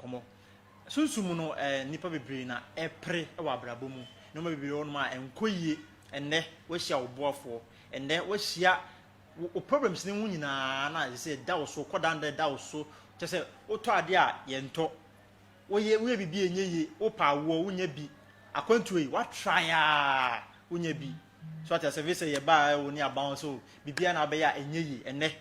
kɔmɔ sunsun mu no ɛɛ eh, nipa bebree na ɛpere eh, wɔ abrabɔ mu nneɛma bebree wɔ nom a ɛnkɔ eh, yie ɛnɛ wɔahyia wo boafoɔ ɛnɛ wɔahyia wo problems ne ho nyinaa na ɛsɛ sɛ ɛda wo so kɔdanda ɛda wo so kyɛ sɛ wotɔ adeɛ a yɛntɔ wo ye, wo ye bibi enye ye, wo pa awoɔ, wo nya bi, akwantuo yi, wa try aa, wo nya bi. So ate ase, vese yɛ baa ɛwo ne aban so, bibi a na abɛyɛ a enye ye, ɛnɛ,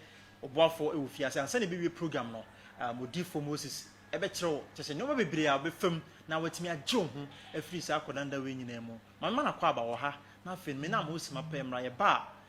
ɔboafo ɛwo fi ase, ansa na ebewie program no, um, odifo Moses ɛbɛ kyerɛ wo, kyɛ sɛ nneɛma bebree a ɔbɛ fam na watumi agye wo ho afiri saa akɔdanda wei nyinaa mu. Mame ma na kɔ aba wɔ ha, na afei no, me na Moses ma pɛ mmra yɛ baa.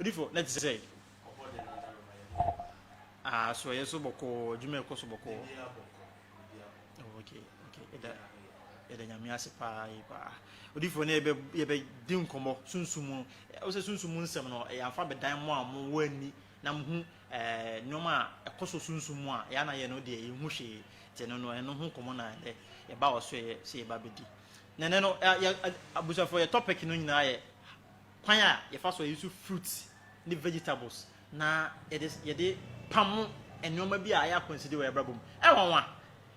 Odifo, na te sɛ asoɛyɛ so bɔkɔɔ, adwuma ɛkɔ so bɔkɔɔ. Okay, okay, ɛda ɛda nyame ase paa yi paa. Odifo ne yɛbɛ yɛbɛ di nkɔmɔ sunsum mu. Ɔsɛ sunsum mu nsɛm no, yɛn afa bɛdan mo a mo wɔ ani na muhu ɛɛ nneɛma a ɛkɔ so sunsum mu a yɛn na yɛn no deɛ yɛn ho hwee te no no ɛno ho nkɔmɔ na ɛnɛ yɛba wɔ so yɛ sɛ yɛba bɛdi na ɛnɛ no yɛ abusuafo yɛ topic no nyinaa yɛ kwan a yɛfa so yɛ so fruits ne vegetables na yɛde yɛde pamo nneɛma bi a ɛyɛ akwanside wɔ yɛbrabɔ mu ɛwɔ nwa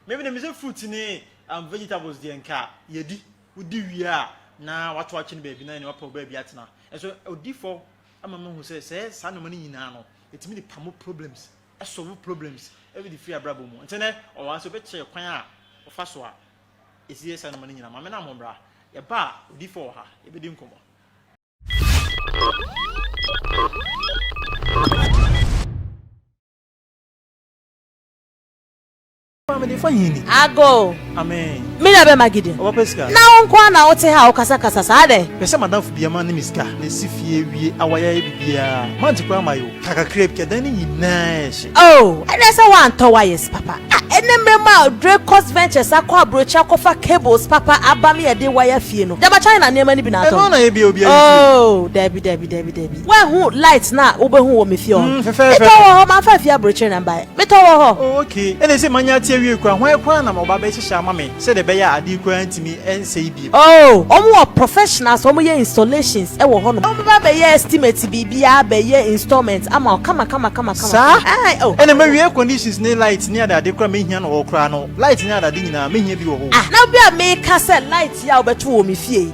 mɛmi na mi sɛ fruits ne um, vegetables deɛ nka yɛdi wodi wie a na wato akyi no baabi na ɛne wapɛ baabi atena ɛso odi fɔ ama mahu sɛ sɛ saa nnoɔma no nyinaa no ɛtumi de pamo problems ɛsɔvo problems ɛbi de firi abrabɔ mu nti nɛ ɔwɔ ase ɔbɛkyerɛ kwan a ɔfa so a ɛsi yɛ saa nnoɔma no nyinaa ma me na mo bra yɛba a odifoɔ wɔ ha yɛbɛdi nkɔmmɔ Ago. Me na bɛma gidi. Na wo nko na wote ha wokasakasa saa dɛ. Pɛ sɛ madamfo bia ma ne me sika na ɛsi fie wie a wayɛyɛ biribiara mante koraa ma yo ka kakra bi kɛ dan no nyinaa ɛhye. Oh ɛnɛ sɛ woantɔ wires papa a ɛnɛ mmerɛ mu a Dracos Ventures akɔ aburokyire akɔfa cables papa aba me yɛde wire fie no dɛma China nneɛma no bi na atɔ no. Ɛno na yɛbia obiara nsuo. Oh dabi dabi dabi dabi. Woahu light no a wobɛhu wɔ me fie hɔ no? Metɔ wɔ hɔ, mamfa afie aburokyire na mbaeɛ. Metɔ wɔ hɔ. Oh, ok. Ɛna ɛsei manya ate awie koraa. Hwan koraa na wɔba abɛhyehyɛ ama me sɛdeɛ ɛbɛyɛ a adeɛ koraa ntumi nsɛe bio? Oh, wɔn wɔ professionals a wɔyɛ installations wɔ hɔnom. Wɔbɛba abɛyɛ estimate biribiara abɛyɛ installment ama wo kama kama kama kama. Saa? Aye, oh. Ɛna mawie air conditions ne light ne adeade koraa a mɛhia no wɔ hɔ koraa no. Light ne adeade nyinaa, mɛhia bi wɔ hɔ o. Ah, na bi a meka sɛ light yi a wobɛto wɔ me fie yi,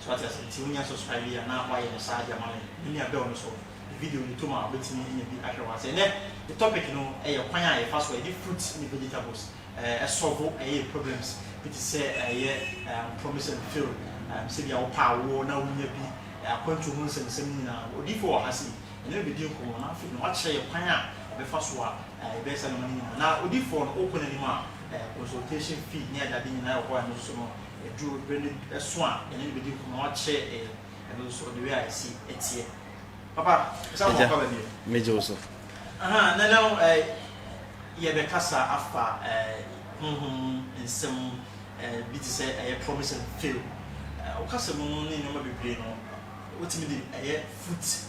So wate ase? Nti wonya subscribe yi a na wayɛ no saa de ama me. Me nua bell no so ne video no tom a wobɛtumi anya bi ahwɛ wɔ ase. Ɛnnɛ yɛ topic no yɛ kwan a yɛfa so yɛde fruits ne vegetables solve yɛn problems bi te sɛ ɛyɛ promise and fail, sɛbia wopɛ awoɔ na wonnya bi, akwantuo ho nsɛmnsɛm no nyinaa no odiyifoɔ wɔ ha sei yɛne no bɛdi nkɔmmɔ na afei no wakyerɛ yɛ kwan a yɛbɛfa so a yɛbɛyɛ saa nnoɔma no nyinaa. Na odiyifoɔ no wokɔ n'anim a consultation fee ne adeade nyinaa wɔ hɔ a ɛno nso no Ɛduru bere no so a yɛne no bedi nkɔmmɔ na wakyerɛ yɛn ɛno nso ɔde wei a esi teɛ. Papa, ɛsɛ ama ɔkɔ baabi o. Megye wo so. Aha, nnɛ no eh, yɛbɛkasa afa eh, honhom mu nsɛm eh, bi te sɛ ɛyɛ promise and fail. Eh, wo kasa mu no ne nneɛma bebree no, wotumi de ɛyɛ foot.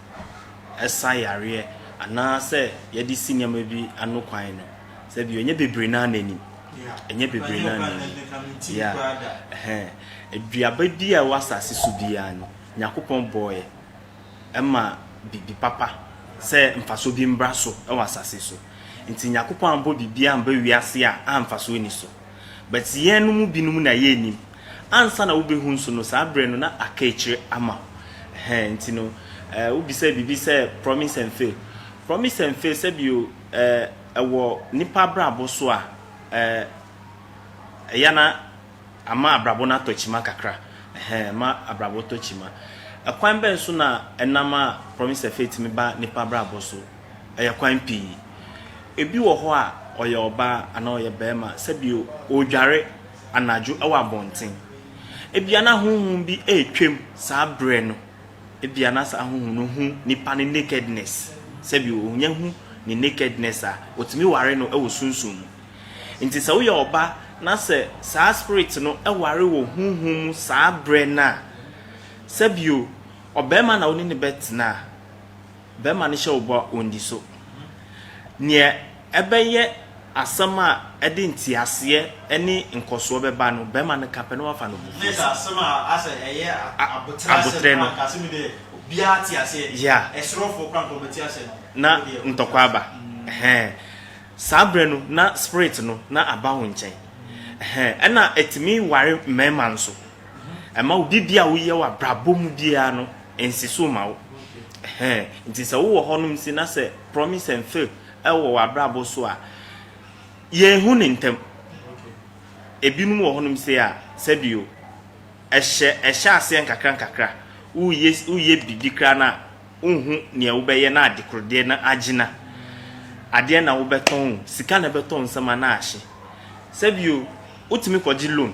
sa yareɛ anaa sɛ yɛde si nneɛma bi ano kwan no, sɛ bio, ɛnyɛ bebree no ara na ɛnim. Ɛnyɛ bebree no ara na ɛnim. Yeah. Ɛhɛn. Aduaba bi a ɛwɔ asase so biara no, Nyankopɔn bɔɔɛ ɛma biribi papa sɛ mfasoɔ bi mbra so ɛwɔ asase so. Nti Nyankopɔn ambɔ biribiara amba wiase a a mfasoɔ nni so. But yɛn no mu binom na yɛn nim. Ansa na wo bɛ hu nso no saa berɛ no na aka akyire ama wo. Ɛhɛn nti no eh wo bisa biribi sɛ promise and fail. Promise and fail sɛbio eh ɛwɔ nipa abrabɔ so a eh ɛya na ama abrabɔ no atɔ kyima kakra. Ɛhɛn ɛma abrabɔ tɔ kyima. Ɛkwan bɛn so na ɛnam a promise and fail tumi ba nipa abrabɔ so? Ɛyɛ kwan pii. Ebi wɔ hɔ a, ɔyɛ ɔbaa anaa ɔyɛ barima sɛdeɛ ɔredware anadwo wɔ abɔnten. Ebia na honhom bi retwam saa berɛ no. Ebia na saa honhom no hu nipa no nakedness, sɛdeɛ ɔnya hu ne nakedness a, wɔtumi ware no wɔ sunsum mu. Nti sɛ woyɛ ɔba na sɛ saa spirit no ware wɔ honhom mu saa berɛ no a, sɛdeɛ ɔbarima na wo ne no bɛtena a, Barima no hyɛ wo bɔ a, ɔndi so. Nea ɛbɛyɛ asɛm a ɛde nteaseɛ ne nkɔsoɔ bɛba no, barima no ka pɛ na wafa no abufuo so. Aboterɛ no. Yeah. Na ntɔkwa aba. Ɛhɛn. Saa berɛ no, na spirit no na aba wo nkyɛn. Ɛhɛn. Ɛna ɛtumi ware mmarima nso. Ɛma wo biribiara a woyɛ wɔ abrabɔ mu biara no, Ɛnsi so mma wo. Ɛhɛn. Nti sɛ wowɔ hɔnom si na sɛ promise and fail wɔ w'abrabɔ so a, yɛnhu no ntɛm. Ebinom wɔ hɔnom sei a, sɛdeɛ o, ɛhyɛ, ɛhyɛ aseɛ nkakra nkakra. Woyɛ, woyɛ biribi koraa no a, wonhu nea wobɛyɛ na adekorodeɛ no agyina. Adeɛ na wobɛtɔn o, sika na ɛbɛtɔ nsɛm anaa ahye. Sɛdeɛ o, wotumi kɔgye loan.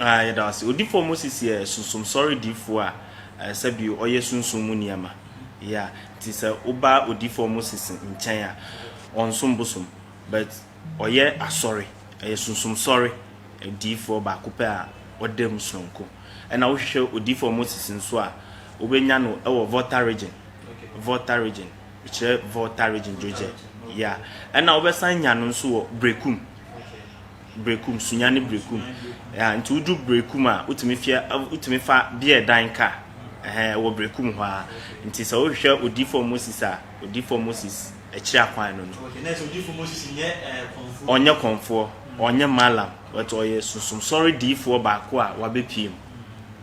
Aah yɛda wo ase Odifoɔ Moses yɛ Sunsum Sɔre Difoɔ a sɛbio ɔyɛ Sunsum mu nneɛma yeah nti sɛ woba Odifoɔ Moses nkyɛn a ɔnsom bosom but ɔyɛ Asɔre ɔyɛ Sunsum Sɔre Difoɔ baako pɛ a ɔda mu sononko ɛna wohwehwɛ Odifoɔ Moses nso a wobɛnya no wɔ Volta Region Volta Region mekyerɛ Volta Region Dwogyɛ yeah ɛna wobɛsan anya no nso wɔ Berekum Berekum, Sunya ne Berekum. Ɛɛa, nti wodu Berekum a, wotumi fia, wotumi fa beer dan ka. Ɛhɛn, ɛwɔ Berekum hɔ ara. Nti sɛ wohwehwɛ Odiyifoɔ Moses a, Odiyifoɔ Moses akyiri akwan no no. Okay, na ɛsɛ Odiyifoɔ Moses nyɛ ɛɛ kɔnfoɔ? Ɔnyɛ kɔnfoɔ, ɔnyɛ Mallam, but ɔyɛ Sunsum Sɔre diyifoɔ baako a wabɛpue mu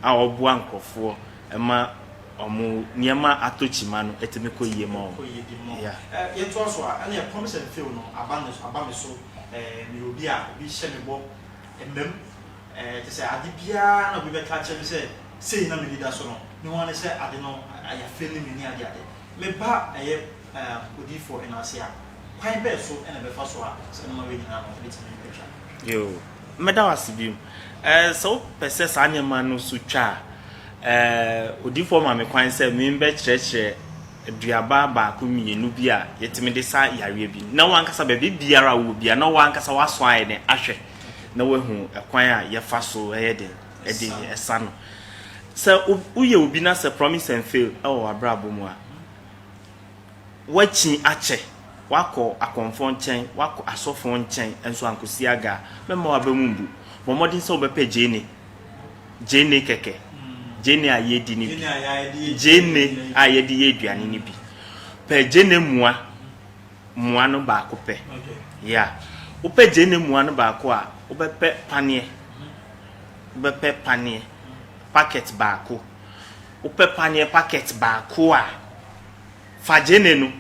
a ɔboa nkorɔfoɔ ma Wɔn nneɛma atɔ kyima no, ɛtumi kɔ yie ma wɔn. Yɛntoa so a, ɛnneɛ promise and fail no aba me so. Meyɛ obi a obi hyɛ me bɔ mmam. Kyerɛ sɛ ade biara na obi bɛka akyerɛ me sɛ sei na m'ani da so no, me ho ara ne sɛ ade no ayɛ afeeli me ne adeade. Me ba yɛ odiyifoɔ no ase a, kwan bɛn so na ɛbɛfa so a saa nneɛma wei nyinaa no ɛbɛtumi atwa? Yoo, mɛda wo ase bio. Eh, sɛ wopɛ sɛ saa nneɛma no so twa a, eh, odiyifoɔ ma me kwan sɛ membɛkyerɛkyerɛ aduaba baako mmienu bi a yɛtumi de sa yareɛ bi. Na w'ankasa baabi biara a wowɔ biara, na w'ankasa woasɔ ayɛ dɛn ahwɛ na woahu ɛkwan a yɛfa so yɛ dɛn de sa no. Sɛ woyɛ obi na sɛ promise and fail wɔ w'abrabɔ mu a, woakyin akyɛ, woakɔ akɔmfoɔ nkyɛn, woakɔ asɔfoɔ nkyɛn, nso ankɔ siaga a, mɛmma w'aba mu mbu. Bɔ mmɔden sɛ wobɛpɛ gyeene, gyeene kɛkɛ, gyeene a yɛadi no bi, gyeene a yɛde yɛ aduane no bi. Pɛ gyeene mua, mua no baako pɛ. Yeah. Wopɛ gyeene mua no baako a, wobɛpɛ paneɛ, wobɛpɛ paneɛ, packet baako. Wopɛ paneɛ packet baako a, fa gyeene no,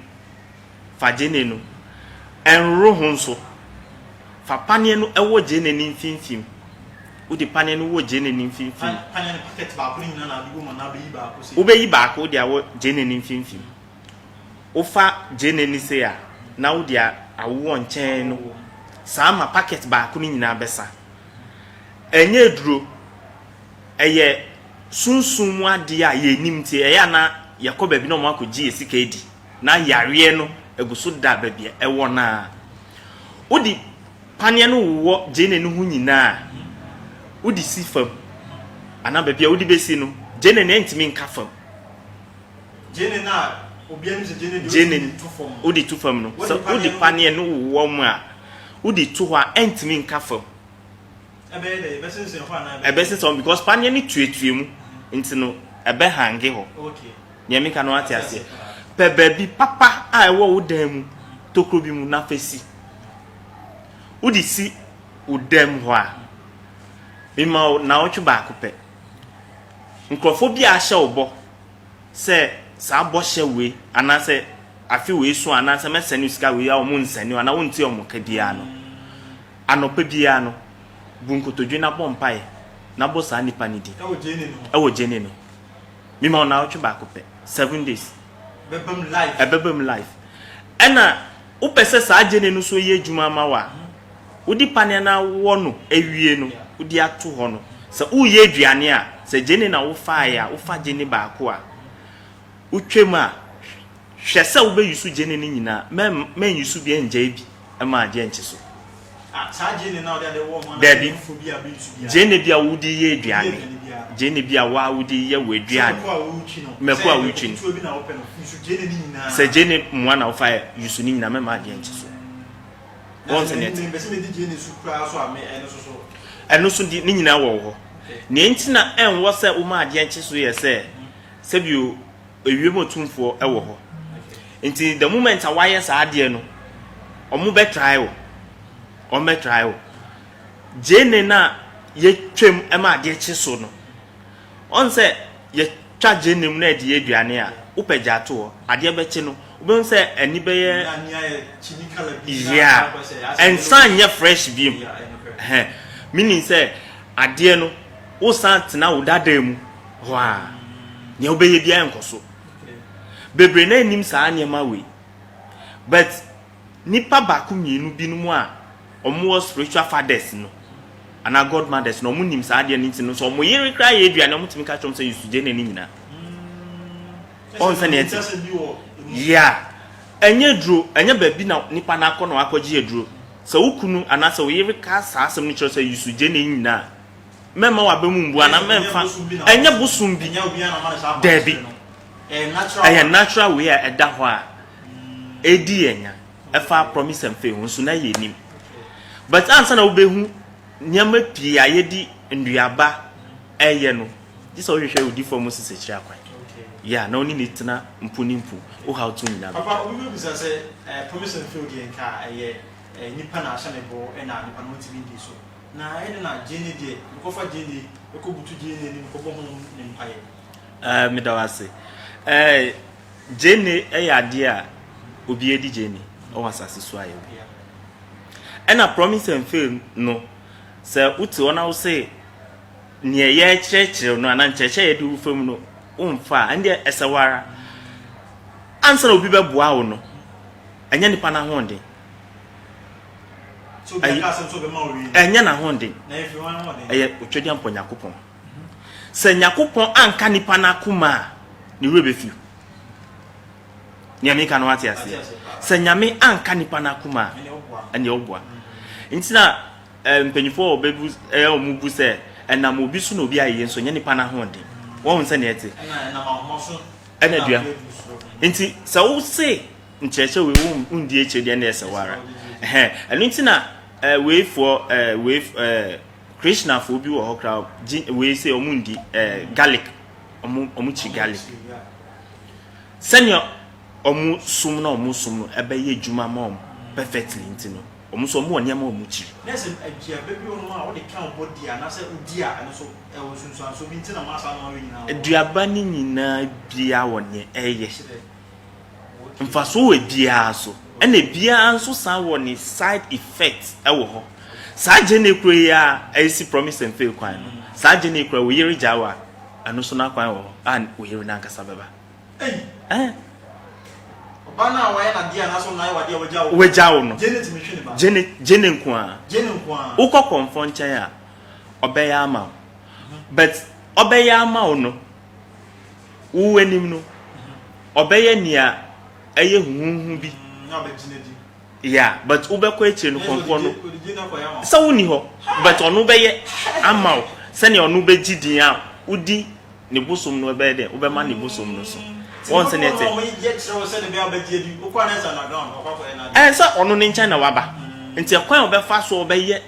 fa gyeene no. Ɛnworo ho nso. Fa paneɛ no wɔ gyeene no mfimfim. Wode paneɛ no wɔ gyeene no mfimfim. Paneɛ no packet baako no nyinaa na wode bɔ mu anaa wobɛyi baako sei? Wobɛyi baako wode awɔ gyeene no mfimfim. Wofa gyeene no sei a, na wode awoɔ nkyɛn no saa ma packet baako no nyinaa bɛsa. Ɛnyɛ aduro, ɛyɛ sunsum mu adeɛ a yɛnnim nti ɛyɛ a na yɛkɔ baabi na wɔakɔgye yɛn sika adi na yareɛ no agu so da baabi a ɛwɔ no ara. Wode paneɛ no wowɔ gyeene no ho nyinaa a, wode si fam anaa baabi a wode bɛsi no, gyeene no ntumi nka fam. Gyeene no a obiara nim sɛ gyeene deɛ wotumi de to fam no. Wode to fam no, sɛ wode paneɛ no wowɔ mu a, wode to hɔ a ɛntumi nka fam. Ɛbɛyɛ dɛ ɛbɛsensɛn hɔ anaa ɛbɛyɛ? Ɛbɛsensɛn hɔ because paneɛ no tuatua mu nti no ɛbɛ hange hɔ. Okay. Nea meka no ate aseɛ. Pɛ baabi papa a ɛwɔ wo dan mu tokuro bi mu na fa si. Wode si wo dan mu hɔ a, mema wo naawɔtwe baako pɛ. Nkurɔfoɔ bi a ahyɛ wo bɔ sɛ saa bɔhyɛ wei anaasɛ afe wei so anaasɛ mɛsɛne wo sika wei a wɔnsɛne wo anaa wonte wɔn ka biara no, Anɔpa biara no, bu nkotodwe na bɔ mpae na bɔ saa nipa no din wɔ Gyenee no ho. Me ma wo naawɔtwe baako pɛ, seven days. Ɛbɛba mu life. Ɛna wo pɛ sɛ saa Gyenee no so yɛ adwuma ama wo a, wo di paneɛ na wɔ no awie no, wo di ato hɔ no, sɛ wo yɛ aduane a, sɛ Gyenee na wo faeɛ a, wo fa Gyenee baako a wo twam a, hwɛ sɛ wo bɛ use Gyenee no nyinaa, mɛ nuse biara ngyae bi. ma agye nkye so. Dabi, gyeene bi a wode yɛ aduane, gyeene bi a waa wode yɛ w'aduane, mako a wotwi no, sɛ gyeene mmoa na wofa yɛ yusu ne nyinaa mɛma agye nkye so. Wɔn sɛ nea ɛte. Ɛno so di ne nyinaa wɔ hɔ. Nea nti na ɛnwɔ sɛ woma agye nkye so yɛ sɛ sɛbio. Ewiem otumfoɔ wɔ hɔ. Nti the moment a wayɛ saa adeɛ no, ɔmo bɛ try wo. Ɔmo bɛ try wo. Gyeene no a yɛ twam ma adeɛ kye so no, ɔn sɛ yɛ twa gyeene mu na yɛde yɛ aduane a, wo pɛ gyaa to hɔ, adeɛ bɛ kye no, wo bɛ hu sɛ ani bɛ yɛ yeah, ɛnsan nyɛ fresh biom. Ɛhɛn, meaning sɛ adeɛ no, wo san tena wo dadaa mu. hɔ a, nea wobɛyɛ biara nkɔ so. Bebree na nnim saa nneɛma wei. But nipa baako mmienu binom a wɔn wɔ spiritual fathers no anaa godmothers no wɔn nim saa adeɛ no nti no sɛ wɔn yere koraa yɛ aduane wɔn tumi ka kyerɛ wɔn sɛ yɛsu gye ne ne nyinaa. Ɔn sɛ nea ɛte. Yia. Ɛnyɛ aduro, ɛnyɛ baabi na nipa no akɔ na wakɔgye aduro. Sɛ wo kunu anaasɛ wo yere ka saa asɛm no kyerɛ sɛ yɛsu gye ne nyinaa. Mɛmma w'aba mu mbu anaa mɛmfa, ɛnyɛ bosom bi, daabi, ɛyɛ natural way a ɛda hɔ a ɛdi yɛn nya, ɛfa promise and faith ho nso na yɛnim. But ansa na wobɛhu nneɛma pii a yɛdi nnuaba ɛyɛ no, gye sɛ wohwehwɛ odifoɔ Moses akyiri akwan. Yeah, na wone ne tena mpo ne mpo, wo haw to nyina no. Papa, obi bɛbisa sɛ promise and faith deɛ nka ɛyɛ nipa na ahyɛ ne bo na nipa no ntumi ndi so. Na ɛnde na Jane deɛ mekɔfa Jane mekɔbutu Jane anim kɔbɔ ho ne mpaeɛ. Ɛɛ meda wo ase. Ɛɛ Jane ɛyɛ adeɛ a obi adi Jane ɛwɔ asase so ayɛ obi. Ɛna promise and fail no sɛ wote hɔ na wose neɛ yɛkyerɛkyerɛ no anaa nkyerɛkyerɛ yɛde wo fam no womfa a ɛndeɛ ɛsɛ wo ara ansa na obi bɛboa wo no ɛnyɛ nipa no ahoɔden. ɛnyɛ n'ahonde ɛyɛ otwadeɛ mpɔ nyakopɔn sɛ nyakopɔn anka nipa no akoma a ne werɛ bɛfi nea meka no ate aseɛ sɛ nyame anka nipa no akoma a ɛneɛ woboa nti na eh, mpanyinfoɔ a ɔbɛbu ɛyɛ eh, ɔmo bu sɛ ɛnam obi so na obi ayɛ nso nyɛ nipa no ahoɔden wɔn sɛ neɛ te ɛna dua nti sɛ wo se nkyerɛkyerɛ wei wo wo ndi akyire deɛ ɛna ɛsɛ wara ɛhɛn ɛno nti na ɛɛ eh, wei foɔ ɛɛ eh, wei ɛɛ eh, krishna foɔ bi wɔ hɔ koraa gyi wei sɛ wɔn ndi ɛɛ garlic wɔn wɔn kyi garlic sɛnea wɔn som na wɔn som no ɛbɛyɛ adwuma ma wɔn perfectly nti no wɔn nso wɔn wɔ nneɛma wɔn kyi. na sɛ aduaba bi wɔn a wɔde ka wɔn di anaasɛ wodi a ɛno so ɛwɔ nsunsuanso bi nti na wɔn asa na wɔn ayɛ nyinaa. aduaba ne nyinaa bia wɔ nea ɛyɛ. mfasoɔ wɔ ebiara so ɛna ebiara nso san wɔ ne side effect ɛwɔ hɔ saa gyene koro yi a ɛsi promise and fail kwan no saa gyene koro wo yere gyaa wa ɛno so n'akwan wɔ hɔ a wo yere n'ankasa bɛba ɛn ɔba no a wayɛ n'adeɛ anaasɛ ɔno ayɛ w'adeɛ a wagya wo wagya wo no gyene tumi twe ne ba gyene gyene nko a gyene nko a wokɔ kɔnfɔ nkyɛn a ɔbɛyɛ ama wo but ɔbɛyɛ ama wo no Wo anim no, ɔbɛyɛ nea ɛyɛ huhuuhu bi. Na ɔbɛgyina di. Yeah, but wobɛkɔ akyire no kɔnkɔn no. Ɔde din akɔyɛ ama wo. Sɛ wonni hɔ, but ɔno bɛyɛ ama wo sɛnea ɔno bɛgye din a wodi ne bosom no bɛyɛ dɛ, wobɛma ne bosom no so. Wɔn sɛnea ɛte. Ti mo kɔn na wɔyɛ kyerɛ wo sɛnea bɛyɛ a wobɛgye adi. Wokɔ a na ɛsɛ underground, wakɔ akɔyɛ n'ade. Ɛɛ, sɛ ɔno ne nkyɛn na waba. Nti ɛkwan a ɔbɛfa so ɔbɛyɛ.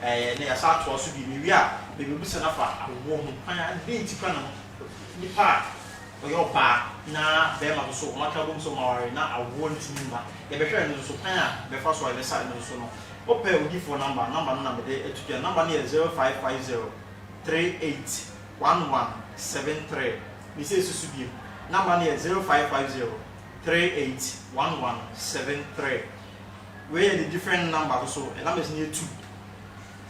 Ɛɛ, na yɛasan atoa so bio. Mewie a, mebebisa no afa awoɔ ho kwan a, adɛn nti koraa na nipa a ɔyɛ ɔbaa na barima no nso wɔaka abom sɛ wɔaware na awoɔ ntumi mma. Yɛbɛhwɛ ɛno nso, kwan a yɛbɛfa so a yɛbɛsa ɛno nso no. Wopɛ odiyifoɔ number a, number no na mede ato dwa. Number no yɛ zero five five zero three eight one one seven three. Mese ɛsi so bio, number no yɛ zero five five zero three eight one one seven three. Wei yɛ the different number no so yɛ numbers no yɛ two.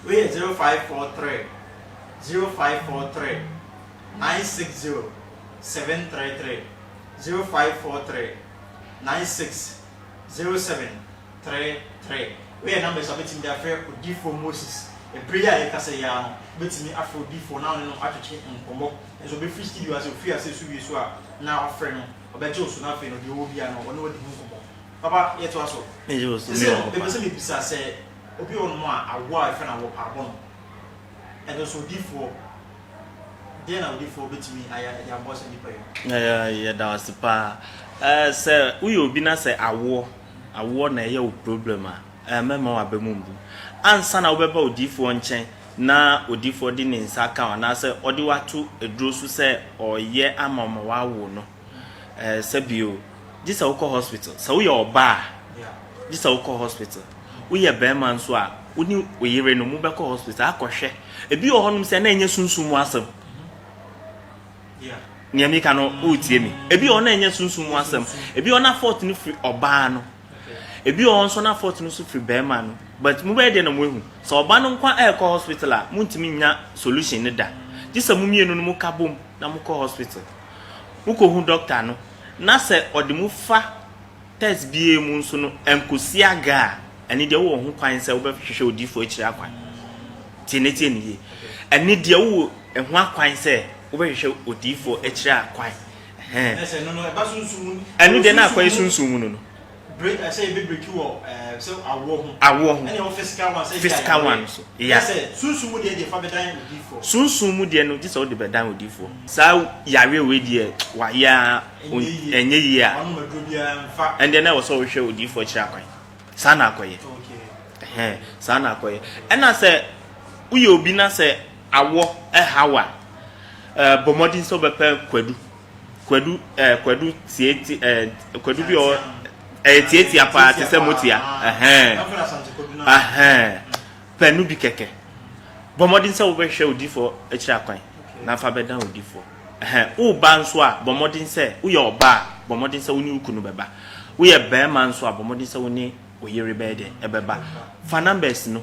Wei yɛ zero five four three zero five four three nine six zero seven three three zero five four three nine six zero seven three three. Wei yɛ numbers a wobɛtumi de afrɛ odiyifoɔ Moses. Ɛberɛ yi a yɛkasa yi ara no, wobɛtumi afrɛ odiyifoɔ na wo ne no atwetwe nkɔmmɔ. Nanso ɔbɛfiri studio ase, ɔfiri ase so wie so a, na wafrɛ no, ɔbɛgye wo so na afei no deɛ ɔwɔ biara no, ɔne wo adi ho nkɔmmɔ. Papa, yɛtoa so. Sesei no, mepɛ sɛ mebisa sɛ obi wɔ hɔnom a awoɔ a ɛfɛ no awoɔ pa abɔ no, ɛno nso odiyifoɔ, deɛn na odiyifoɔ bɛtumi ayɛ de aboa saa nnipa yi no? Yɛda wo ase paa. Eh, sɛ woyɛ obi na sɛ awoɔ, awoɔ na ɛyɛ wo problem a, eh, mɛma w'aba mu mbu. Ansa na wobɛba odiyifoɔ nkyɛn na odiyifoɔ de ne nsa aka wo anaasɛ ɔde wo ato aduro so sɛ ɔreyɛ ama wo ma woawo no, Ɛɛsɛ bio gyesɛ wokɔ hospital sɛ woyɛ ɔba a gyesɛ wokɔ hospital woyɛ bɛɛma nso a wone woyere no mobɛkɔ hospital akɔhwɛ ebi wɔ hɔnom sɛ na ɛnyɛ sunsum mu asɛm nea meka no woretie me ebi wɔ na ɛnyɛ sunsum mu asɛm ebi wɔ na fault no firi ɔbaa no ebi wɔ nso na fault no so firi bɛɛma no but mobɛyɛ deɛ na moahu sɛ ɔba no nkwa ɛrekɔ hospital a montumi nya solution no da gyesɛ mo mmienu no moka bom na mokɔ hospital Mokohu dɔkta no na sɛ ɔde mo fa tɛs biara mu nso no ankosi aga a, ɛne deɛ wowɔ ho kwan sɛ wobɛhwehwɛ odiyifoɔ akyiri akwan. Tie na tie no yie. Ɛne deɛ wowɔ ɛho akwan sɛ wobɛhwehwɛ odiyifoɔ akyiri akwan. Ɛhɛn. Ɛno deɛ na akɔyɛ sunsum mu no no. break ɛsɛ yɛ bɛ break wɔ ɛɛ sɛ awoɔ ho. Awoɔ ho. Ɛna ɛwɔ physical one sɛ ebi ayɛ physical one so yeah. Ɛna sɛ sunsun mu deɛ deɛ fa bɛ dan odiifoɔ. Sunsun mu deɛ no gye sɛ ɔde bɛ dan odiifoɔ. Saa yareɛ wei deɛ wayɛ aa ɛnyɛ yie a. Wanom aduro bi aa nfa. Ɛndeɛ na ɛwɔ sɛ ɔhwɛ odiifoɔ akyire akwan. Saa na akɔ yɛ. Okay. Ɛhɛn saa na akɔ yɛ. Ɛna sɛ woyɛ obi na sɛ awɔ ɛha wo a ɛɛ bɔ mmɔden sɛ wobɛ pɛ kwadu. Kwadu ɛɛ Kwadu tieti ɛɛ Kwadu bi ɔ ɛyɛ tiatia paa te sɛ motia ɛhɛn ɛhɛn pɛ no bi kɛkɛ bɔ mmɔden sɛ wobɛhwɛ odifoɔ akyiri akwan na fa bɛdan odifoɔ ɛhɛn woba nso a bɔ mmɔden sɛ woyɛ ɔba a bɔ mmɔden sɛ wo ne wo kunu bɛba woyɛ barima nso a bɔ mmɔden sɛ wo ne wo yere bɛyɛ dɛ ɛbɛba fa numbers no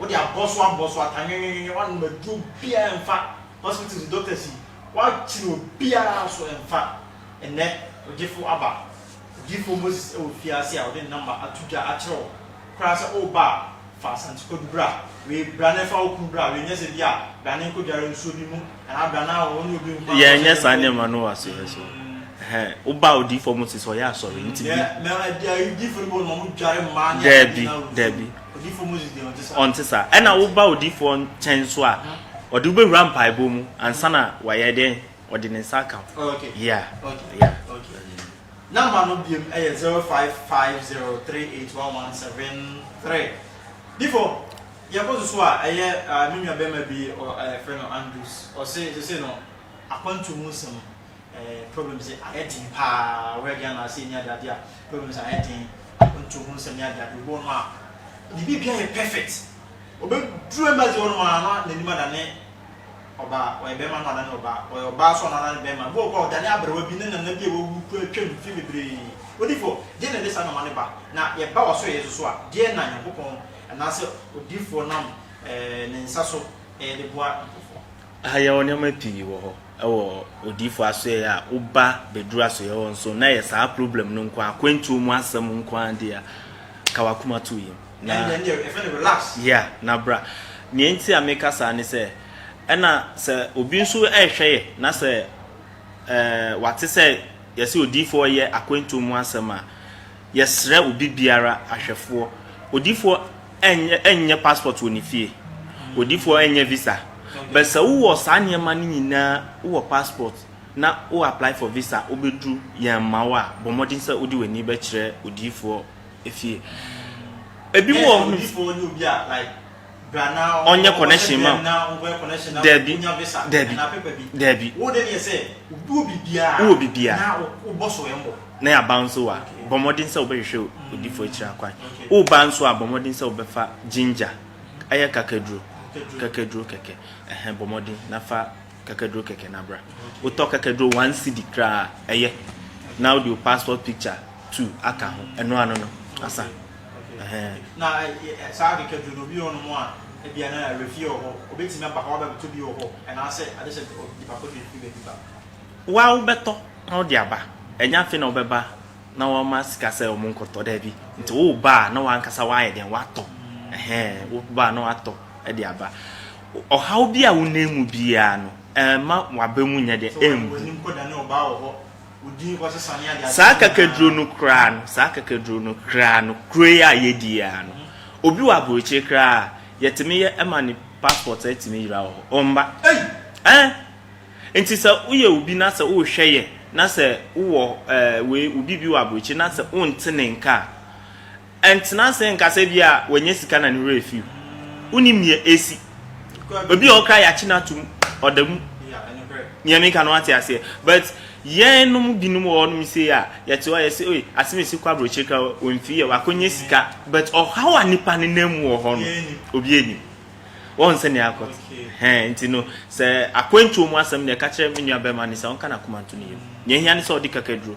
Wode abɔ so abɔ so ata nwenwenwenwe woanom aduro biaa ɛmfa hospitals doctors yi woakyere obiaa so ɛmfa ɛnɛ ogyefo aba odiyifoɔ Moses wɔ fie ase a ɔde ne number ato dwa akyerɛ wo koraa sɛ woba a fa Asante Kwadu bra wei bra na ɛfa wo kunu bra wei nyɛ sɛ bia bra ne nkɔdware nsuo bi mu Yɛnyɛ saa nneɛma no wɔ asɔre so. Woba odiyifo mo si sɛ ɔyɛ asɔre nti bi. Daabi, daabi. Ɔnte saa. Ɛna woba odiyifo nkyɛn nso a, ɔde wobɛwura mpaebɔ mu ansa na wayɛ dɛn? Ɔde ne nsa aka ho. Yeah. Number no biom ɛyɛ 0550381173. Difo. Yɛkɔ so so a, ɛyɛ me nua barima bi yɛfrɛ no Andrews, ɔse sesei no akwantu mu nsɛm problems ayɛ den paa, ɔyɛ Ghana ase ne adeade a problems ayɛ den, akwantu ho nsɛm ne adeade, obi wɔ nom a ne biribia yɛ perfect, ɔbɛduru embassy hɔ nom a na nanim adane ɔbaa, ɔyɛ barima na wadane ɔbaa, ɔyɛ ɔbaa nso a na wadane barima, ebi wɔ hɔ koraa a ɔdane aberewa bi ne nana bi a wawu koraa atwam mfe bebree, odiyifoɔ deɛ na ɛde saa nnoɔma no ba, na yɛba w'asoɛeɛ nso so a deɛ na Nyankopɔn Anaasɛ odiyifoɔ nam ne nsa so de boa nkurɔfoɔ. Aha yɛwɔ nneɛma pii wɔ hɔ wɔ odiyifoɔ asoɛeɛ a woba bɛduru asoɛeɛ hɔ nso na ɛyɛ saa problem no nko ara akwantuo mu asɛm nko ara deɛ a ka w'akoma to yam na yeah na bra nea enti a meka saa ne sɛ ɛna sɛ obi nso ɛrehwɛ yɛ na sɛ ɛɛ wate sɛ yɛse odiyifoɔ yɛ akwantuo mu asɛm a Yɛsrɛ obi biara, ahwɛfoɔ, odifoɔ ɛnyɛ nyɛ passport wɔ ne fie, odifoɔ ɛnyɛ visa, but sɛ wowɔ saa nneɛma no nyinaa, wowɔ passport na wo apply for visa, wobɛduru yɛn mma wo a, bɔ mmɔden sɛ wode w'ani bɛkyerɛ odiyifoɔ fie. Ebi wɔ hɔ. Odiyifoɔ ne obi a apply. ɔnyɛ connection ma dabi dabi dabi wowɔ biribiaa na yɛaba nso a bɔ mmɔden sɛ wobɛhwehwɛ odifoɔ akyiri akwan woba nso a bɔ mmɔden sɛ wobɛfa ginger ɛyɛ kakaduro kakaduro kɛkɛ ɛhɛ bɔ mmɔden na fa kakaduro kɛkɛ no abra wotɔ kakaduro one cd koraa ɛyɛ na wode wo passport picture two aka ho ɛno ano no asa Waa wobɛtɔ na wode aba, ɛnyɛ afei na wobɛba na wama sika sɛ wɔn nkɔtɔ, daabi, nti woba a na w'ankasa w'ayɛ dɛn w'atɔ, ɛhɛn, woba a na w'atɔ de aba. Ɔhaw bi a wonam mu biara no ɛmma w'aba mu nyɛ dɛn ɛmbu. Saa kakaduro no koraa no, saa kakaduro no koraa no, kuro yi a yɛdi yɛ ara no, obi wɔ aburokyire koraa a, yɛtumi yɛ ɛma ne passport atumi yera wɔ hɔ. Ɔmba. Ɛn! Nti sɛ woyɛ obi na sɛ wohwɛ yɛ na sɛ wowɔ ɛɛ wei obi bi wɔ aburokyire na sɛ wonte ne nka a, Ɛntena ase nka sɛ ebia wanya sika na ne werɛ afi wo. Wonnim nea asi. Obi a ɔkra yɛakye no atom, ɔda mu. Nea meka no wate aseɛ. But yɛnom binom wɔ hɔnom sei a, yɛte hɔ a yɛse oi, asɛm a ɛsi kɔ aburokyire kra o, wamfii yɛ, wakɔnya sika. But ɔhaw a nnipa nenam mu wɔ hɔ no, obiara nnim. Wɔn sɛnea akɔte. Hɛn, nti no, sɛ akwantuo mu asɛm, nea ɛka kyerɛ me nuabɛrima ne sɛ ɔnka n'akoma nto ne yam. Nea ɛhia ne sɛ ɔde kakaduro.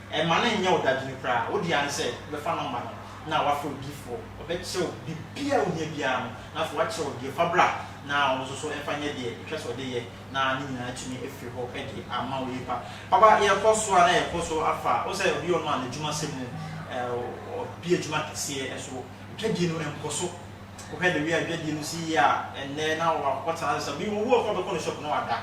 Mma no nnyɛ wo dadwene koraa. Wo dea ne sɛ wobɛfa nɔmba no na woafrɛ odiyifoɔ. Ɔbɛkyerɛ wo biribiara a wohia biara no, na afei wakyerɛ wo deɛ fa bra na ɔno nso so mfa nyɛ deɛ ɛhwɛ sɛ ɔde yɛ na ne nyinaa atumi afiri hɔ de ama wo. Epa papa yɛkɔ so a na yɛkɔ so afa. Wo sɛ obi ɔno a n'adwuma sɛ mu ɔbi adwuma kɛseɛ ɛso dwadie no nkɔ so. Wo hwɛ the way a dwadie no si yɛ a ɛnnɛ na watena ase sɛ obi wo wo a ɔbɛkɔ ne shop na wada.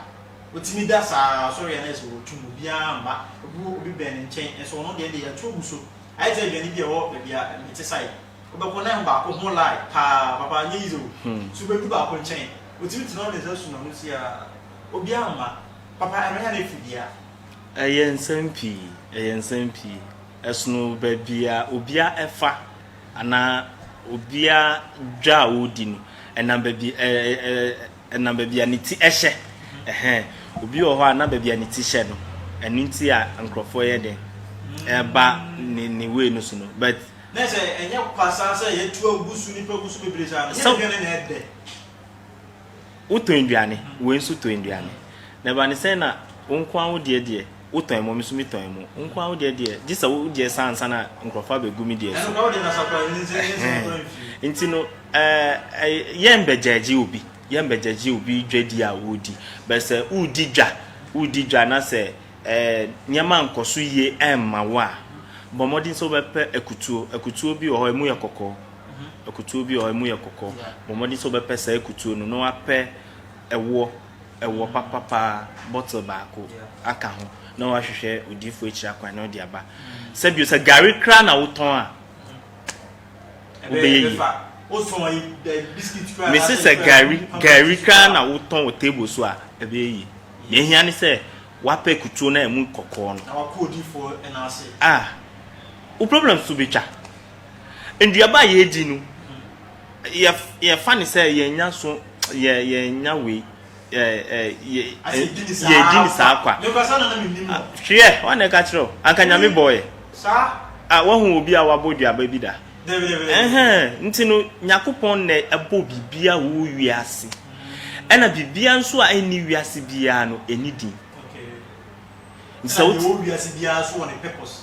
Ɔtumi da saa ara, ɔsɔre yɛ a na ayɛ sɛ ɔretu mu, obiara mma, obi wɔ obi bɛn ne nkyɛn nso ɔno deɛ ɛnde yɛatu agu so, ayɛ te sɛ aduane bi a ɛwɔ baabi a mete sae, wobɛkɔ na ɛho baako ho lie paa, papa ɛnyɛ easy o, so wobɛdu baako nkyɛn, ɔtumi tena hɔ ne nsa sum ano siaa, obiara mma, papa ɛno ɛyɛ a na ɛfi bia. Ɛyɛ nsɛm pii, ɛyɛ nsɛm pii, ɛsono baabi a obiara fa anaa obiara dwa a ɔredi no, ɛnam baabi, ɛɛ, ɛɛ, Ɛnam baabi a ne ti hyɛ. Ɛhɛn. Obi wɔ hɔ a na baabi a ne ti hyɛ no, ɛno nti a nkorɔfoɔ yɛ dɛn ɛba ne ne way no so no but. Na sɛ ɛnyɛ kwa saa sɛ yɛtu agu so nipa gu so bebree saa no, ɛnyɛ aduane na ɛdɛ. Wotɔn aduane, wei nso tɔn aduane. Na ɛba ne sɛn na wo nko ara wo deɛ deɛ. Wo tɔn mo, me nso me tɔn mo. Wo nkoa wo deɛ deɛ, gye sɛ wo deɛ saa ansa na nkurɔfoɔ abɛgu me deɛ so. Nti no, yɛn bɛgyagye obi, yɛn bɛgyagye obi dwadi a ɔredi. Bɛ sɛ woredi dwa, woredi dwa na sɛ nneɛma nkɔ so yie ɛmma wo a, bɔ mmɔden sɛ wobɛpɛ akutuo. Akutuo bi wɔ hɔ ɛmu yɛ kɔkɔɔ, akutuo bi wɔ hɔ ɛmu yɛ kɔkɔɔ. Bɔ mmɔden sɛ wobɛpɛ saa akutuo no na wapɛ ɛwoɔ. ɛwɔ papa paa bottle baako aka ho na wahwehwɛ odiyifoɔ akyira kwan na ɔde aba. Sɛ bio sɛ gari koraa na wotɔn a, wobɛyɛ yie. Mese sɛ gari gari koraa na wotɔn wɔ table so a, ɛbɛyɛ yie. Deɛ ehia ne sɛ wapɛ kutuo na ɛmu kɔkɔɔ no. Ah, wo problems nso bɛtwa. Nnuaba a yɛredi no, yɛ yɛfa ne sɛ yɛnya so yɛ yɛnya wei yɛ yɛ yɛdi ne saa kwa hwɛ wɔn na ɛka kyerɛ anka nyame bɔɔ yɛ a wɔhu obi a wabɔ duaba bi da ɛhɛn nti no nyakopɔn na ɛbɔ biribiara wo wiase ɛna biribiara nso a ɛnni wiase biara no ɛni din nti sɛ wo wiase biara so wɔ ne purpose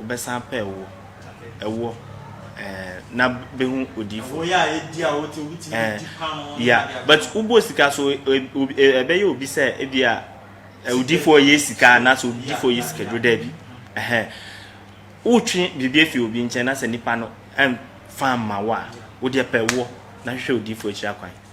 Wɔbɛsan pɛ wo, ɛwɔ, eh, na behu odiyifo, eh, ya. But wobɔ sika so, ɛbɛyɛ obi sɛ ebi a odiyifo ɔyɛ sika anaasɛ odiyifo ɔyɛ sika duro daabi, eh, wotwe biribi afi obi nkyɛn na sɛ nipa no ɛmfa mma wo a, wodeɛ pɛ wo na hwehwɛ odiyifo akyiri akwan.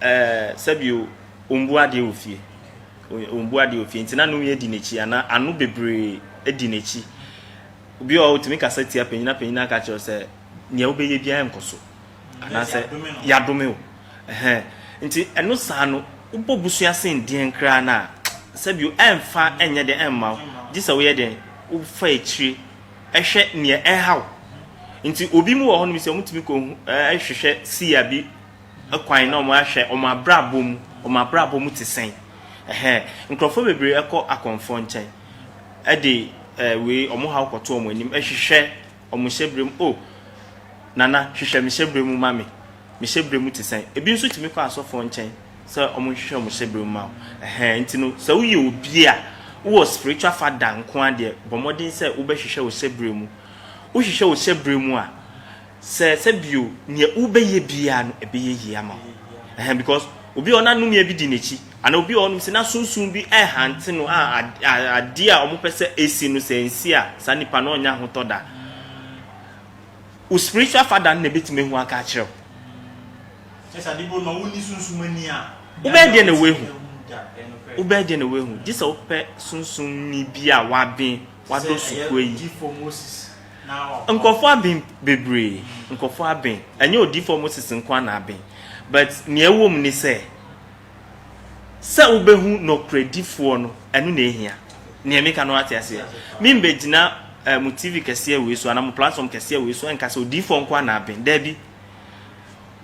Ɛɛ, sɛbio, ombu adeɛ wɔ fie. Ombu adeɛ wɔ fie, nti na Nowia di n'akyi anaa ano bebree di n'akyi. Obi wɔ hɔ a, otumi kasa tia panyin, na panyin aka akyerɛ no sɛ, Nea wobɛyɛ biara nkɔ so. Anaasɛ, Yɛadome wo. Ɛhɛn. Nti, ɛno saa no, wobɔ busua sen deɛn koraa no a, sɛbio, ɛmfa nyɛ dɛn mma wo, gye sɛ woyɛ dɛn? Wofa akyire hwɛ nea ɛreha wo. Nti, obi mu wɔ hɔnom sɛ, wɔtumi kɔ hwehwɛ siia bi. kwan na wɔn ahwɛ wɔn abrabɔ mu, wɔn abrabɔ mu te sɛn, ɛhɛ, nkorɔfoɔ bebree ɛkɔ akɔmfoɔ nkyɛn ɛde ɛɛ wei wɔn haw kɔto wɔn anim ɛhwehwɛ wɔn hyɛbrɛ mu, oh Nana hwehwɛ me hyɛbrɛ mu ma me, me hyɛbrɛ mu te sɛn, ebi nso tumi kɔ asɔfoɔ nkyɛn sɛ wɔn nhwehwɛ wɔn hyɛbrɛ mu ma wo, ɛhɛ, nti no sɛ wo yɛ obi a wo wɔ spiritual father nkoa deɛ bɔ mmɔden sɛ wo bɛ hwehwɛ wo hyɛbrɛ mu, wo hwehwɛ wo hyɛbrɛ mu a, Sɛ sɛ bio, nea wobɛyɛ biara no ɛbɛyɛ yie ama wo. Ɛhɛn because obi a ɔna nnome bi di n'akyi anaa obi a ɔnom sɛ na sunsum bi ɛrehante no a adeɛ a wɔpɛ sɛ ɛsi no sɛ ɛnsi a saa nipa no ɔnnya ahotɔ da. Wo spiritual father no na ɛbɛtumi ahu aka akyerɛ wo. Kyerɛ sɛ ade bi wɔ hɔ no wonni sunsum ani a. Wobɛyɛ deɛ na woahu. Wobɛyɛ deɛ na woahu. Gye sɛ wopɛ sunsum ni bi a waben wadɔ sukuu ayi. Sɛ ɛyɛ odifo Moses Nkurɔfoɔ aben bebree, nkurɔfoɔ aben, ɛnyɛ Odiyifoɔ Moses nko ara na aben, but nea ɛwɔ mu ne sɛ, sɛ wobɛhu Nokorɛdifoɔ no, ɛno na ɛhia. Nea meka no woate aseɛ? Membɛgyina eh, mo TV kɛseɛ wei so anaa mo platform kɛseɛ wei so nka sɛ Odiyifoɔ nko ara na aben. Daabi.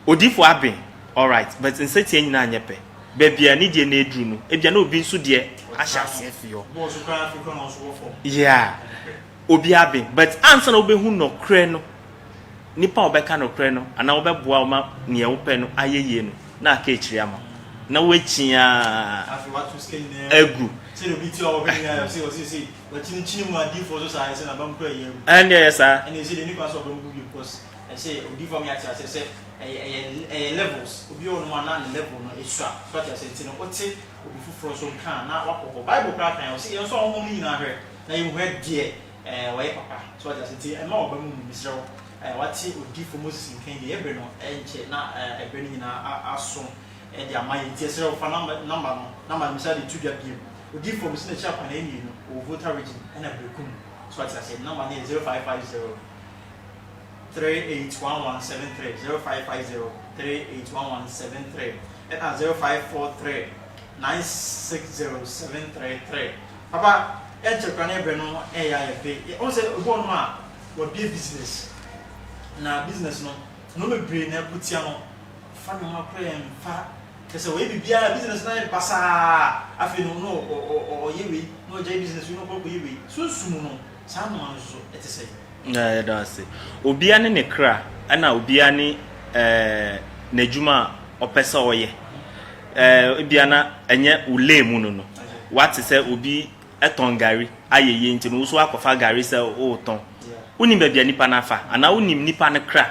Odiyifoɔ aben, alright, but nsatia nyinaa nyɛ pɛ. Baabi a ne deɛ na ɛduru no, ebia na obi nso deɛ ahyɛ aseɛ fi hɔ. Yeah. obi aben but ansa na wobɛhu nɔkorɛ no, nipa a ɔbɛka nɔkorɛ no anaa ɔbɛboa wo ma neɛ wopɛ no ayɛ yie no na aka akyiri ama wo na woakyi ara agu. Ɛnde ɛyɛ saa. na yɛhu ɛdeɛ wɔyɛ papa, so wate aseɛ, nti mma w'aba mu mmu, mesrɛ wo, wate odiyifoɔ Moses nkan yei, yɛn berɛ no nkyɛ na ɛberɛ no nyinaa aso de ama yɛn, nti yɛsrɛ wo fa number no na ma mesan de to dwa bio, odiyifoɔ mese n'akyi akwadaa mmienu wɔ Volta region ɛna Berekum, so wate aseɛ, ne number no yɛ zero five five zero three eight one one seven three, zero five five zero three eight one one seven three ɛna zero five four three. 960733 Papa ɛnkyɛ koraa na ɛbrɛ no ɛyɛ a yɛpɛ ɔhu sɛ ebi wɔ hɔnom a wabie business na business no nnoɔma bebree na ɛko tia no ɔfa nnoɔma koraa ɛmfa kyerɛ sɛ ɔyɛ biribiara na business no ayɛ basaa afei no na ɔyɛ wei na ɔgyae business wei na ɔkɔ akɔyɛ wei sunsum no Saa nhoma no nso te sɛn? Na yɛda wo ase. Obiara ne ne kra, ɛna obiara ne ɛɛ n'adwuma a ɔpɛ sɛ ɔyɛ. Ɛɛ ebia na ɛnyɛ wo lane mu no no. Wate sɛ obi tɔn gari ayɛ yie nti no, wo nso woakɔfa gari sɛ woretɔn. Wonim baabi a nipa no afa anaa wonim nipa no kra.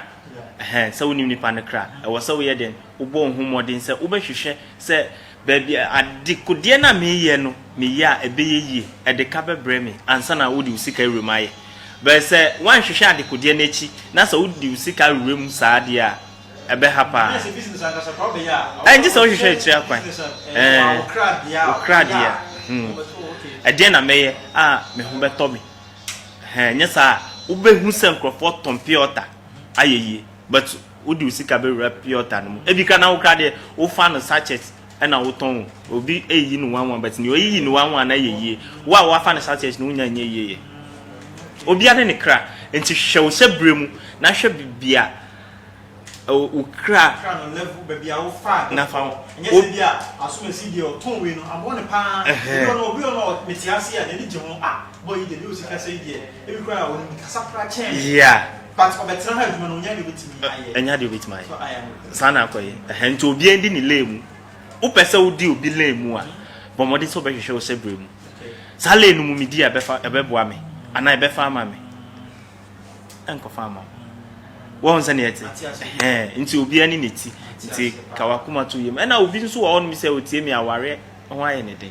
Ɛhɛn, sɛ wonim nipa no kra a, ɛwɔ sɛ woyɛ dɛn? Wobɔ wo ho mmɔden sɛ wobɛhwehwɛ sɛ Baabi a, adekodeɛ no a mereyɛ no, meyɛ a ɛbɛyɛ yie, ɛde ka bɛbrɛ me ansa na wode wo sika awura mu ayɛ. But sɛ woanhwehwɛ adekodeɛ no akyi na sɛ wode wo sika wura mu saa deɛ a, ɛbɛha pa ara. Ɛngye sɛ wohwehwɛ akyire akwan. Ɛɛ, wo kra deɛ a, hmm, ɛdeɛn na mɛyɛ a me ho bɛtɔ me? Ɛhɛn, nyɛ saa a, wobɛhu sɛ nkurɔfoɔ tɔn pure water ayɛ yie. But Wode wo sika bɛwura piɔta no mu. Ebi kra na wo kra deɛ wo fa no sachet ɛna wo tɔn o. Obi ɛyiyi no one one but nea ɔyiyi no one one no ayɛ yie. Wo a wafa no sachet no wo nya nyɛ yie yɛ. Obia ne ne kra nti hwɛ wo hyɛ berɛ mu na hwɛ bebia wo kra. Kra no level bebia wo fa no. Na fa wo. Ɛnyɛ sɛ bia Asomasi deɛ ɔtɔn wei no aboɔ no paa. Ebi wɔ hɔ no obi wɔ hɔ no mete aseɛ a n'ani gye ho ah. Boy yi deɛ deɛ ɔsi kasa yi deɛ ebi koraa a ɔnim kasa koraa kyɛn me. Yeah. But ɔbɛtena ha adwuma no ɔnya deɛ ɔbɛtumi ayɛ. Ɛnya deɛ ɔbɛtumi ayɛ. So I am. Saa na akɔ yi. Ɛhɛn nti obiara ndi ne lane mu. Wopɛ sɛ wodi obi lane mu a, bɔ mmɔden sɛ wobɛhwehwɛ wo hyɛbrɛ mu. Saa lane no mu medi a ɛbɛfa ɛbɛboa me anaa ɛbɛfa ama me. Ɛnkɔfa ama wo. Wɔn sɛ neɛ ɛte. Ate aseɛ. Ɛhɛn nti obiara ne ne ti. Nti ka w'akoma to yam. Ɛna obi nso wɔ hɔnom sɛ otie me awareɛ ho ayɛ ne den.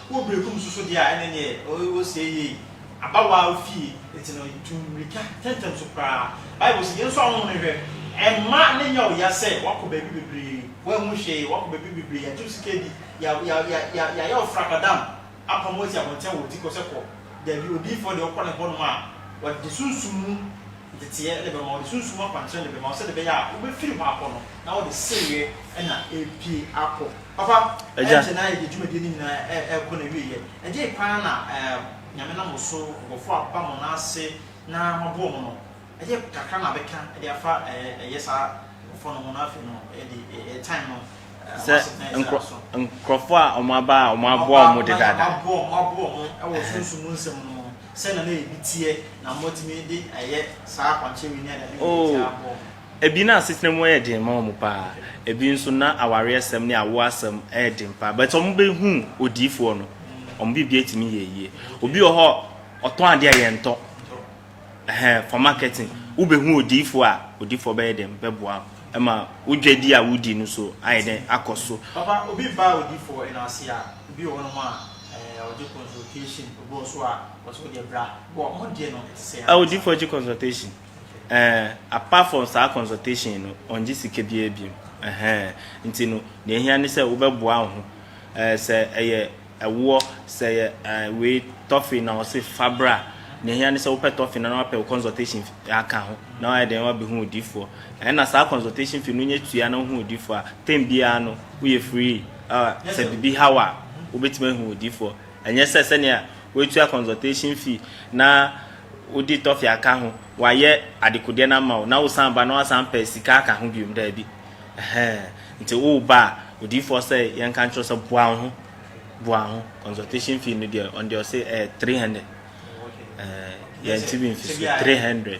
Wo bere fam susude a ɛne nea wosɛe yiye yi aba wo ara wo fie, enti no tu mmirika ntɛmntɛm so koraa. Bible se yensɔ ahɔho no nhwɛ. Mma no nyɛ wo ya sɛ woakɔ baabi bebree, woanhu hwee, woakɔ baabi bebree, yɛagye wo sika adi, yɛayɛ wo frabadam, apam wo asi abɔnten wɔ ti kɔ sɛ kɔ. Dabi, odiyifoɔ deɛ, wokɔ ne hɔnom a, ɔde ne sunsum mu nteteɛ na ɛbɛma wo, ɔde sunsum mu akwankyerɛ na ɛbɛma wo, sɛdeɛ ɛbɛyɛ a wobɛfiri hɔ akɔ no, na wode sereɛ na ɛrepue akɔ. Papa, Agya. ɛnkyɛ na yɛde dwumadie no nyinaa ɛ, ɛrekɔ n'awieɛ. Ɛdeɛn paa na ɛɛ Nyame nam wo so, nkorɔfoɔ a aba mo nan ase na moaboa wɔn no, ɛdeɛn kakra na bɛka de afa ɛɛ ɛyɛ saa nkorɔfoɔ no ho na afei no yɛde ɛɛ time no ɛɛ Sɛ wɔasɛt na yɛde nkorɔ, aso. nkorɔfoɔ a wɔn aba a wɔn Wɔn aboa aba wɔn na dedaada. wɔn aboa wɔn, wɔaboa wɔn ɛwɔ Ɛhɛn. sunsum mu nsɛm no ho, sɛdeɛ na ebi teɛ na moatumi de ɛyɛ saa akwankyerɛ wei ne adeade wei de Oo. aboa wɔn. Ebi na asetena mu yɛ den ma wɔn paa, ebi nso na awareɛsɛm ne awoɔ asɛm yɛ den paa but wɔn bɛ hu odiyifoɔ no wɔn biribi atumi yɛ yie. Obi wɔ hɔ ɔtɔn adeɛ a yɛn tɔ ɛhɛn for marketing wo bɛ hu odiyifoɔ a odiyifoɔ bɛyɛ den bɛ boa wo ɛma wo dwadi a wodi no so ayɛ den akɔ so. Papa obi ba odiyifoɔ no ase a obi wɔ hɔ nom a ɛɛ ɔgye consultation obi wɔ so a ɔsɛ wo deɛ bra bɔ mmɔdeɛ no ɛte sɛ ansa. Odiyifoɔ gye consultation. Ɛɛ apart from saa consultation no ɔngye sika biaa biom ɛhɛɛ nti no deɛ ɛhia ne sɛ wobɛboa wo ho ɛɛ sɛ ɛyɛ ɛwoɔ sɛ ɛyɛ ɛɛ wei tɔfe na ɔse fa bra deɛ ɛhia ne sɛ wopɛ tɔfe no na wapɛ wo consultation fee aka ho na wayɛ dɛn wabɛhu odifoɔ ɛna saa consultation fee no wonya tua na wohu odifoɔ a term biaa no woyɛ free ɛɛ sɛ biribi ha wo a wobɛtumi ahu odifoɔ Ɛnyɛ sɛ sɛnea woatua consultation fee na wode tɔfe aka ho, wɔayɛ adekodeɛ no ama wo na wosan ba na woasan pɛ sika aka ho biom, daabi. Ɛhɛɛ, nti woreba a, odiyifoɔ sɛ yɛnka nkyerɛ wo sɛ boa wo ho, boa wo ho. Consultation fee no deɛ, ɔno deɛ ɔse ɛyɛ three hundred. Ɛɛ, yɛnte bi mfi so, three hundred.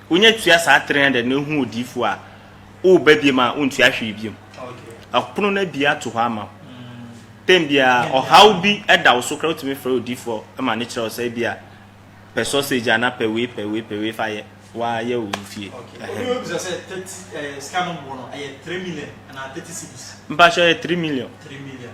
Wonya tua saa three hundred na ehu odiyifo a, woba biom a wontua hwee biom. Ɔpono no abie ato hɔ ama wo. Tɛm biara ɔhaw bi da wo so koraa wotumi frɛ odiyifo ma no kyerɛ wo sɛ ebia pɛ sausage anaa pɛ wei pɛ wei pɛ wei fa yɛ wa yɛ wo fie. Obi bisa sɛ thirty sika no bo no ɛyɛ three million anaa thirty cedis. Mpakyɛw ɛyɛ three million. Three million.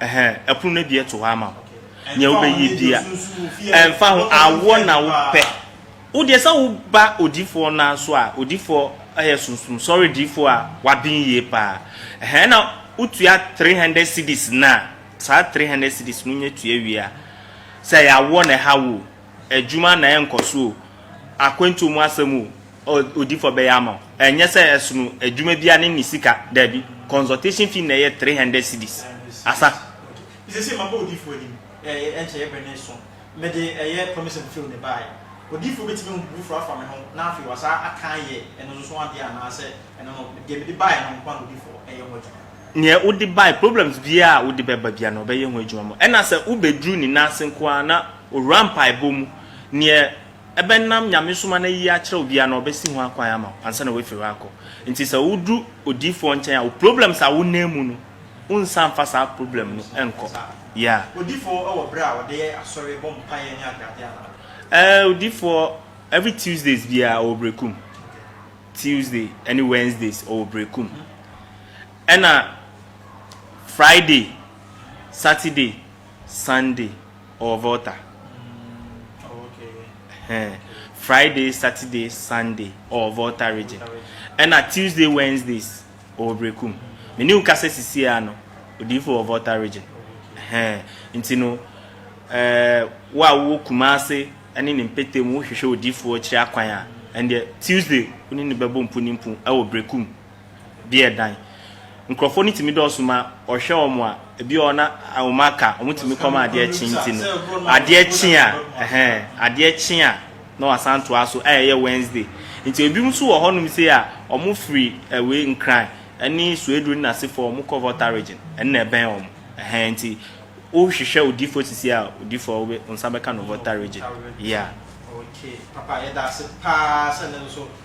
Ɛhɛn, ɛpono no abien to hɔ ama wo. Nea wobɛyɛ bia, ɛmfa ho, awoɔ na wopɛ. Wo deɛ sɛ wo ba odiyifoɔ no ara so a, odiyifoɔ yɛ sunsum sɔre diyifoɔ a waben yie paa. Ɛhɛn, ɛna wotua three hundred cedis no a, saa three hundred cedis no wonya tua wie a, sɛ ɛyɛ awoɔ na ɛha wo o, Adwuma na ɛnkɔ so o, akwantuo mu asɛm o, odiifɔ bɛyɛ ama wo. Ɛnyɛ sɛ ɛsono adwuma biara ne ne sika, daabi. Consultation fee na ɛyɛ three hundred cedis. Asa. Seesei maba odiifɔ anim, ɛyɛ ɛnkyɛeɛ bɛne nson, mede ɛyɛ promise and fail na ɛbaeɛ. Odiifɔ bɛtumi ahu biribi foforɔ afa me ho na afei wasan aka ayɛ ɛno nso adeɛ anaa sɛ ɛno no, deɛ mede baeɛ no nko ara na odiifɔ ɛyɛ ho adwuma. Neɛ wode baeɛ, problems biara a wode bɛba biara no ɔbɛyɛ ho adwuma ma wo. Ɛna sɛ wobɛduru ne nan ase nko ara na Owura mpaebɔ mu. Neɛ ɛbɛnam Nyamesom ano ayi akyerɛ wo biara no, ɔbɛsi ho akwan ama wo ansa na woafiri hɔ akɔ. Nti sɛ woduru odiyifoɔ nkyɛn a, wo problems a wonam mu no, wonsa mfa saa problem no nkɔ. Yeah. Odifoɔ wɔ berɛ a wɔde yɛ asɔre bɔ mpaeɛ ne adeadeɛ anaa? Eh, odifoɔ, every Tuesdays biara ɔwɔ Berekum. Tuesday ɛne Wednesdays ɔwɔ Berekum. Ɛna Friday, Saturday, Sunday. ɔwɔ volta friday saturday sunday ɔwɔ volta region ɛna tuesday wednesdays ɔwɔ brekum mene wo kasa sisi a no odiifo wɔ volta region nti no eh, wo a wowɔ kuma ase ne ne mpete mu wohwehwɛ odiifoɔ kyerɛ akwan a ɛndeɛ tuesday wo ne ne bɛbɔ mpo ne mpo ɛwɔ brekum deɛ ɛdan. Nkurɔfoɔ no tumi dɔɔso ma wɔhwɛ wɔn a, ebi wɔ hɔ na wɔn aka, wɔtumi kɔ ma adeɛ kye nti no, adeɛ kye a, ɛhɛn, adeɛ kye a na wɔasan toa so a ɛyɛ Wednesday. Nti ebinom nso wɔ hɔnom sei a, wɔfiri wei Nkran ne Suedru ne n'asefoɔ wɔkɔ Volta Region, ɛno na ɛbɛn wɔn, ɛhɛn, nti wohwehwɛ odiyifoɔ sisi a, odiyifoɔ wo nsa bɛka no Volta Region, yeah. Okay, papa yɛda ase paa sɛ nnɛ nso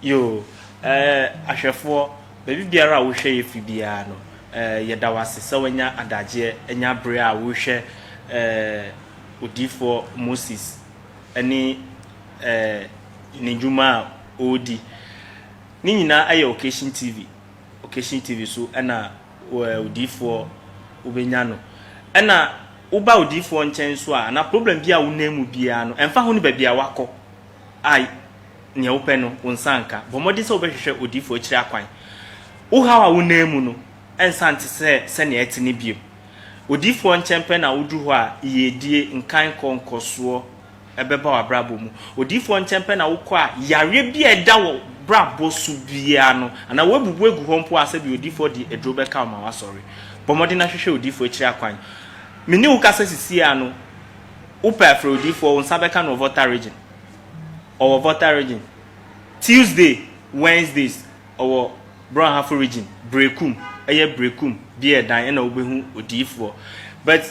Yoo, eh, ahwɛfoɔ, baabi biara a wohwɛ yɛ firi biara no, eh, yɛda wo ase sɛ woanya adagyeɛ anya bere a worehwɛ, eh, Odiyifoɔ Moses ne, eh, ne dwuma a ɔredi. Ne nyinaa ɛyɛ Occasion TV. Occasion TV so ɛna, eh, Odiyifoɔ wobɛnya no. Ɛna woba Odiyifoɔ nkyɛn nso a, anaa problem bi a wonam mu biara no, ɛmfa ho ne baabi a woakɔ, a nea wopɛ no, wo nsa nka. Bɔ mmɔden sɛ wobɛhwehwɛ odiyifo akyiri akwan. Wo haw a wonam mu no, ɛnsa nte sɛ sɛnea ɛte no bio. Odiyifoɔ nkyɛn pɛ na woduru hɔ a, yiedie, nkaekɔ, nkɔsoɔ bɛba w'abrabɔ mu. Odiyifoɔ nkyɛn pɛ na wokɔ a, yareɛ bi a ɛda wo brabɔ so biara no, anaa woabubu agu hɔ mpo a, sɛdeɛ odiyifoɔ de aduro bɛka wo ma woasɔre. Bɔ mmɔden na hwehwɛ odiyifoɔ akyiri akwan. Me ne wo kasa sisi ara no, Wopɛ afrɛwdifoɔ, wo nsa bɛka no wɔ Volta Region, ɔwɔ Volta Region. Tuesday, Wednesdays, ɔwɔ Brɔnhafo Region, Brekum, ɛyɛ Brekum, Beardan ɛna wobɛhu odiyifoɔ. But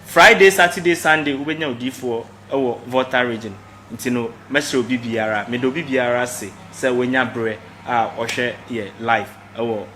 Friday, Saturday, Sunday wobɛnya odiyifoɔ wɔ Volta Region. Nti no, mɛsrɛ obi biara, meda obi biara ase sɛ wanya berɛ a ɔhwɛ yɛ live wɔ.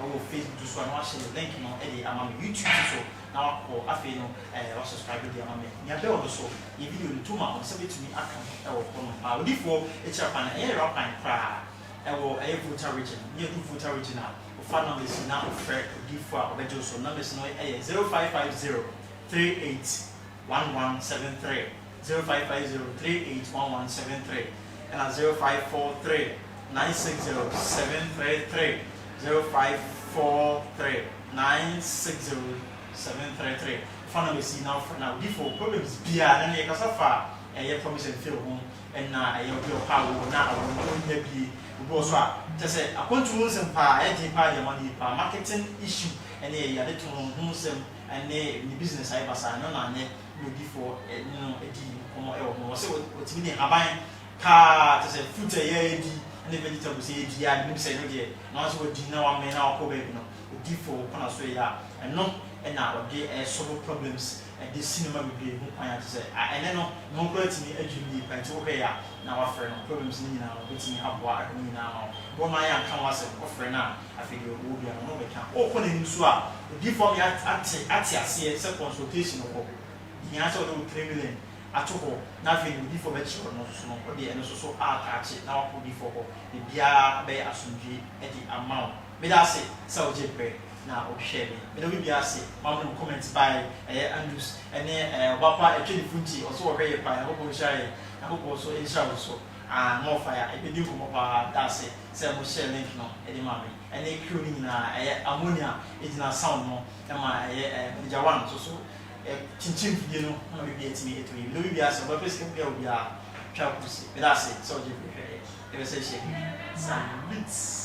Wɔ Facebook nso a na wahyɛ ne link no de ama me, YouTube nso so na wakɔ afei no eh, wa subscribe de ama me. Nea bell no so, yɛ video no tom a wo nsa betumi aka ho wɔ hɔ nom. Ah, odiyifoɔ kyerɛ kwan, ɛyɛ yera kwan koraa, ɛwɔ ɛyɛ Volta region, ne yɛdu Volta region a, wo fa numbers yi na wo frɛ odiyifoɔ a ɔbɛgye wo so, numbers no ɛyɛ zero five five zero three eight one one seven three zero five five zero three eight one one seven three ɛna zero five four three nine six zero seven three three zero five four three nine six zero seven three three fa na bɛsi na ɔfrɛ na odi for problems biara na ne yɛ kasa fa ɛyɛ promise and fail ho ɛna ɛyɛ obi ɔha wo na awɔ no ɔnya bie obi wɔ so a kyɛ sɛ akwantu ho nsɛm paa ɛyɛ den paa deɛ ma no yɛ paa marketing issue ɛne ɛyɛ ade to ho ho nsɛm ɛne ne business ayɛ basaa ɛno na anyɛ Nodifo no di nkɔmmɔ wɔ ho. Wɔse wɔtumi de nhaban kaa te sɛ fruit a yɛadi ne vegetables a yɛadi a menim sɛ ɛno deɛ na ɔno nso wadi na wamee na wakɔ baabi no, Odifo kɔ na so yɛ a ɛno na ɔde solve problems de si nneɛma bebree ho kwan a te sɛ ɛnnɛ no ne ho koraa tumi adwiri yie paa nti wohwɛe a na wafrɛ no problems no nyinaa no ɔbɛtumi aboa ahwɛ ne nyinaa ama wo. Boro no ara yɛanka ho asɛm, wofrɛ no a Afei deɛ ɔwɔ biara ɔno ɔbɛka. Wokɔ n'anim so a, odiyifoɔ me ate ate ate aseɛ sɛ consultation wɔ hɔ. Hia sɛ wode wo tremelen ato hɔ na afei deɛ odiyifoɔ bɛkyerɛ wo no nso so no, wode ɛno nso so aataakye na woakɔ odiyifoɔ hɔ. Biribiara bɛyɛ asomdwoeɛ de ama wo. Meda ase sɛ wogyee berɛ na wohwɛɛ me. Meda obi biara ase. Moamene mo comment baeɛ. Ɛyɛ Andrews ne ɛɛ ɔba pa ɛtwe ne funti. Ɔse ɔhwɛ yɛ paa. Nyankopɔn nhyira yɛ. Nyankopɔn nso nhyira wo nso. Ah more fire. Yɛbɛdi nkɔmmɔ paa. Meda ase. sɛ mohyɛɛ link no de maa me, ɛne Crew no nyinaa, ɛyɛ ammonia a egyina sound no ma ɛyɛ Manager One nso so kyinkyim mfidie no ma biribiara tumi to yie, mede obi biara sɛ ɔbɛpɛ sika biara a obiara twa kɔ si, meda ase sɛ ɔgye bere hwɛ yɛn, yɛpɛ sɛ yɛhyɛ link no. Salute.